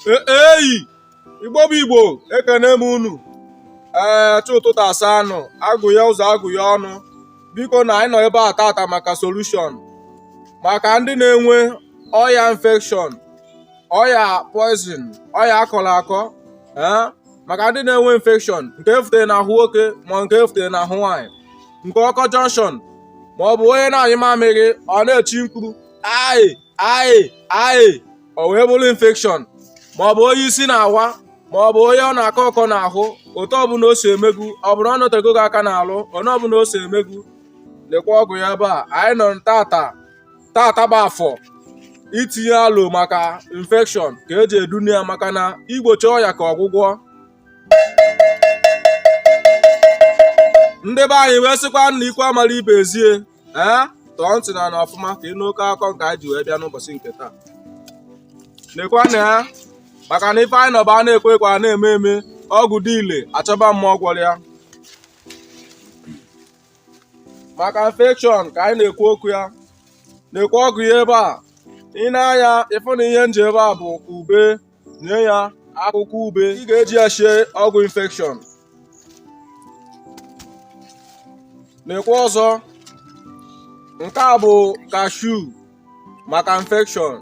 eyi igbo bụ igbo ekene m unu ee chi ụtụtụ asaa nụ agụye ụzọ agụye ọnụ biko na anyị nọ ebe a tata maka solution maka ndị na-enwe ọya infection ọya poison ọya akọrọ akọ eh? maka ndị na-enwe infection nke efutere n'ahụ nwoke ma nke efutere n'ahụ nwaanyị nke ọkọ junction ma ọ bụ onye na-anyụ mamịrị ọ na-echi mkpu aị aị aị o wee bụrụ infection ma ọ bụ onye isi na-awa ma ọ bụ onye ọ na-akọ ọkọ n'ahụ otu ọbụla o si emegbu ọ bụrụ ọ nọtego gị aka n'alụ onye ọbụla o si emegbu nekwa ọgwụ ya ebe a anyị nọ tata tata bụ afọ itinye alo maka infection ka eji edunye ya maka na igbochi ọya ka ọgwụgwọ ndị be anyị wee sịkwa na ikwu amara ibe ezie ee tọọ ntị n'ana ọfụma ka ị nụ oke akọ nke anyị ji wee bịa n'ụbọchị nke taa nekwa anya maka na ife anyị nọ bụ a na-ekwu ekwu a na-eme eme ọgwụ dị ile achọba mmadụ gwọrọ ya maka infection ka anyị na-ekwu okwu ya nekwa ọgwụ ya ebe a i nee anya ị fụ na ihe m ji ebe a bụ ube nee ya akwụkwọ ube ị ga-eji ya sie ọgwụ infection nekwa ọzọ nke a bụ cashew maka infection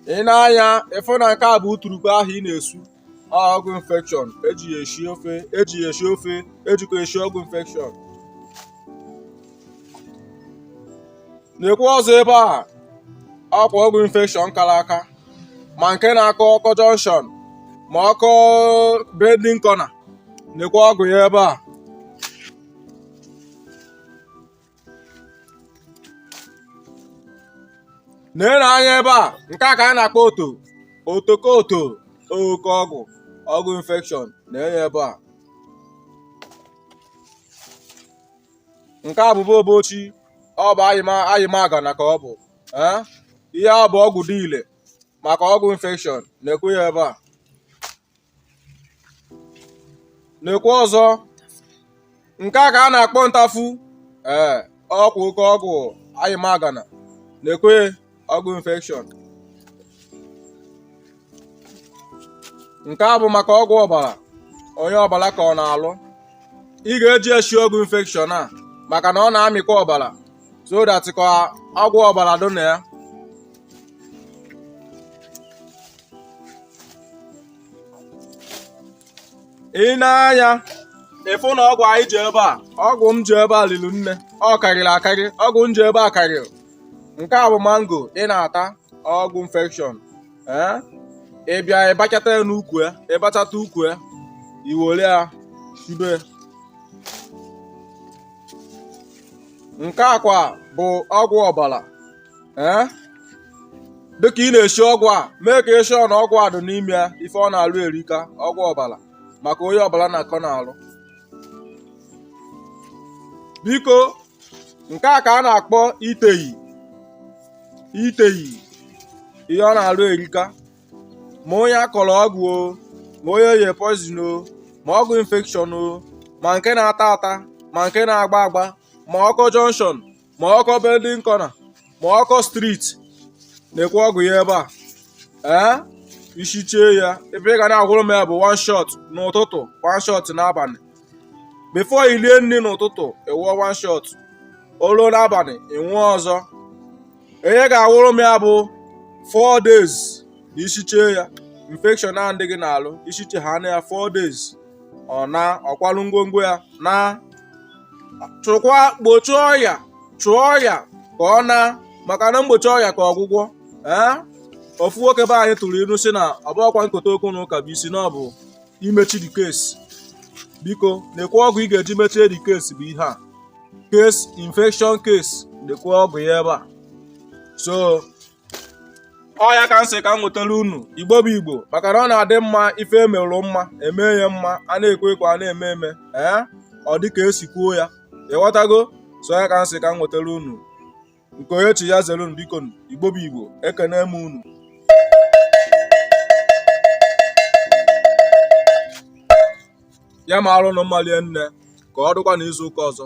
i nee anya ị fụ na nke a bụ uturukpa ahụ ị na-esu ọgwụ infection eji ya esi ofe ejikwa esi ọgwụ infection nekwa ọzọ ebe a ọkwa ọgwụ infection kara aka ma nke na-akọ ọkọ junction ma ọkọ bending corner nekwa ọgwụ ya ebe a nene anya ebe a nke a ka a na-akpọ oto otoko oto oke ọgwụ ọgwụ infection nee ya ebe a nke a bụbụ obochi ọ bụ ayịmaga na ka ọ bụ ihe a bụ ọgwụ dị ile maka ọgwụ infection nekwa ya ebe a nekwe ọzọ nke a ka a na-akpọ ntafu ee ọkwa oke ọgwụ ayịmagana nekwe ọgwụ infection nke a bụ maka ọgwụ ọbara onye ọbara kọ n'alụ ị ga-eji eshi ọgwụ infection a maka na ọ na-amịkwa ọbara so that ka ọgwụ ọbara dị na ya i nee anya ị fụ na ọgwụ anyị ji ebe a ọgwụ m ji ebe a liri nne ọ karịrị akarị ọgwụ m ji ebe a karịrị nke a bụ mango ị na-ata ọgwụ infection ee ị bịa ị bachata ya n'ukwu ya ị bachata ukwu ya i were ya sibe nke a kwa bụ ọgwụ ọbara ee dịka ị na-esi ọgwụ a make sure na ọgwụ a dị n'ime ya ife ọ na-alụ erika ọgwụ ọbara maka onye ọbara na-akọ n'alụ biko nke a ka a na-akpọ iteyi iteyi ihe ọ na-alụ erika ma onye a kọrọ ọgwụ o ma onye ye poison o ma ọgwụ infection o ma nke na-ata ata ma nke na-agba agba ma ọkọ junction ma ọkọ bending corner ma ọkọ street nekwe ọgwụ ya ebe a ee i siche ya ebe ị ga na-anwụrụ m ya bụ one shot n'ụtụtụ one shot n'abalị before i lie nri n'ụtụtụ ị nwụọ one shot o lu n'abalị ị nwụọ ọzọ ihe ị ga-anwụrụ m ya bụ four days na i siche ya infection a dị gị n'alụ i siche ha na ya four days ọ naa ọ kwalụ ngwongwo ya naa chụkwa gbochie ọya chụọ ọya ka ọ naa maka na mgbochi ọya ka ọgwụgwọ ee ofu nwoke be anyị tụrụ ilu sị na ọ bụrọkwa nkota okwu na ụka bụ isi na ọ bụ imechi the case biko nekwe ọgwụ ị ga-eji mechie the case bụ ihe a case infection case nekwe ọgwụ ya ebe a so ọ ya ka m sị ka m nwetara unu igbo bụ igbo maka na ọ na-adị mma ife e merụ mma e mee ya mma a na-ekwe ekwe a na-eme eme ee ọ dị ka e si kwuo ya ị ghọtago so ọ ya ka m sị ka m nwetara unu nke onye chi ya zere unu biko igbo bụ igbo ekene m unu ya ma arụ na mmalie nne ka ọ dịkwa n'izu ụka ọzọ